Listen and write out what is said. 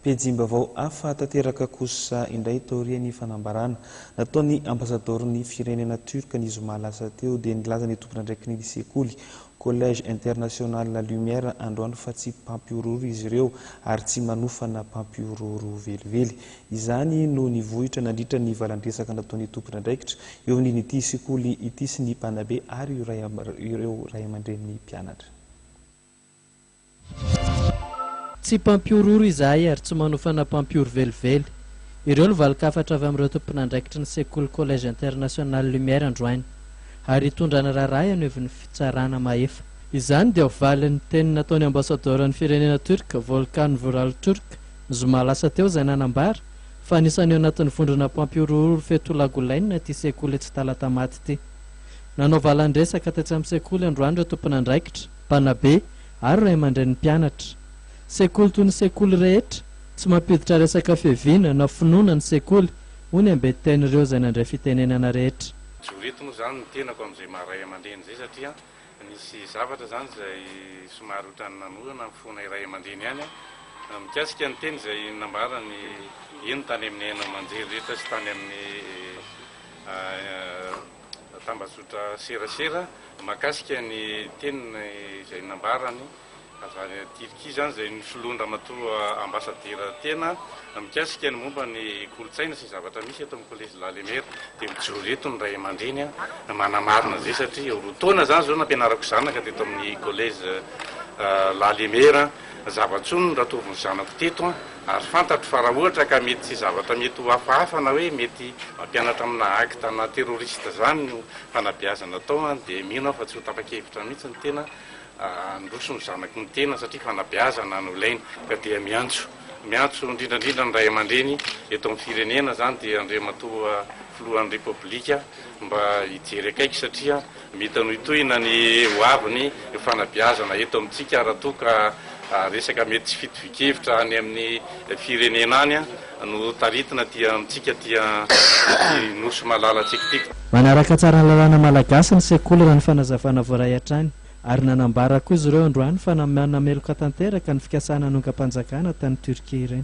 Pejim-baovao hafa tanteraka kosa indray taorian'ny fanambarana nataon'ny Ambasadaoron'ny firenena Turc ny zoma lasa teo dia nilaza ny tompon'andraikiny sekoly Collège International La Lumière androany fa tsy mpampihorohoro izy ireo ary tsy manofana mpampihorohoro velively. Izany no nivohitra nandritra ny valandresaka nataon'ny tompon'andraikitra eo amin'ity sekoly ity sy ny mpanabe ary ireo raiamandrenin'ny mpianatra. Tsy mpampihorohoro izahay ary tsy manofana mpampihoro velively. Ireo no valin-kafatra avy amin'ireo tomponandraikitry ny sekoly Collège International Lumière androany. Ary hitondrana raharaha eo anivon'ny fitsarana mahefa. Izany dia ho valin'ny teny nataon'ny Ambasadaoran'ny firenena Turque, Volkan Vural Türk, ny zoma lasa teo izay nanambara fa anisany eo anatin'ny vondrona mpampihorohoro Fetullah Gulen ity sekoly etsy Talatamaty ity. Nanao valan-dresaka tetsy amin'ny sekoly androany ireo tomponandraikitra. Mpanabe ary ray aman-drenin'ny mpianatra. Sekoly toy ny sekoly rehetra, tsy mampiditra resaka fiaviana na finoana ny sekoly, hoy ny amben-tenin'ireo izay nandray fitenenana rehetra. Mijoro eto moa izany ny tenako amin'izay maha ray aman-dreny izay satria nisy zavatra izany izay somary ohatran'ny nanorana ny fonay ray aman-dreny ihany mikasika ny teny izay nambarany eny tany amin'ny haino aman-jery rehetra sy tany amin'ny tambajotra serasera mahakasika ny teniny izay nambarany avy any Tirkia izany izay nosoloany ramatoa ambasadiera tena mikasika ny momba ny kolontsaina sy ny zavatra misy eto amin'ny kolejy Lalemera dia mijoro eto ny ray aman-dreny manamarina izay satria roa taona izany izao nampianarako zanaka teto amin'ny kolejy Lalemera zava-tsoa no niratovin'ny zanako teto Ary fantatro fa raha ohatra ka mety tsy zavatra mety ho hafahafa na hoe mety mampianatra amina acte na terroriste izany no fanabeazana atao an dia mino aho fa tsy ho tapa-kevitra mihitsy ny tena handroso ny zanako mitena satria fanabeazana no ilaina. Ka dia miantso miantso indrindra indrindra ny ray aman-dreny eto amin'ny firenena izany dia Andriamatoa Filohan'ny Repoblika mba hijery akaiky satria. Mitohitohina ny ho aviny ny fanabeazana eto amintsika raha toa ka resaka mety tsy fitovian-kevitra any amin'ny firenena any no taritina aty amintsika aty amin'ny Nosy malalantsika ity. Manaraka tsara ny lalàna malagasy ny sekoly raha ny fanazavana voaray hatrany, ary nanambara koa izy ireo androany fa nameloka tanteraka ny fikasana hanongam-panjakana tany Turquie ireny.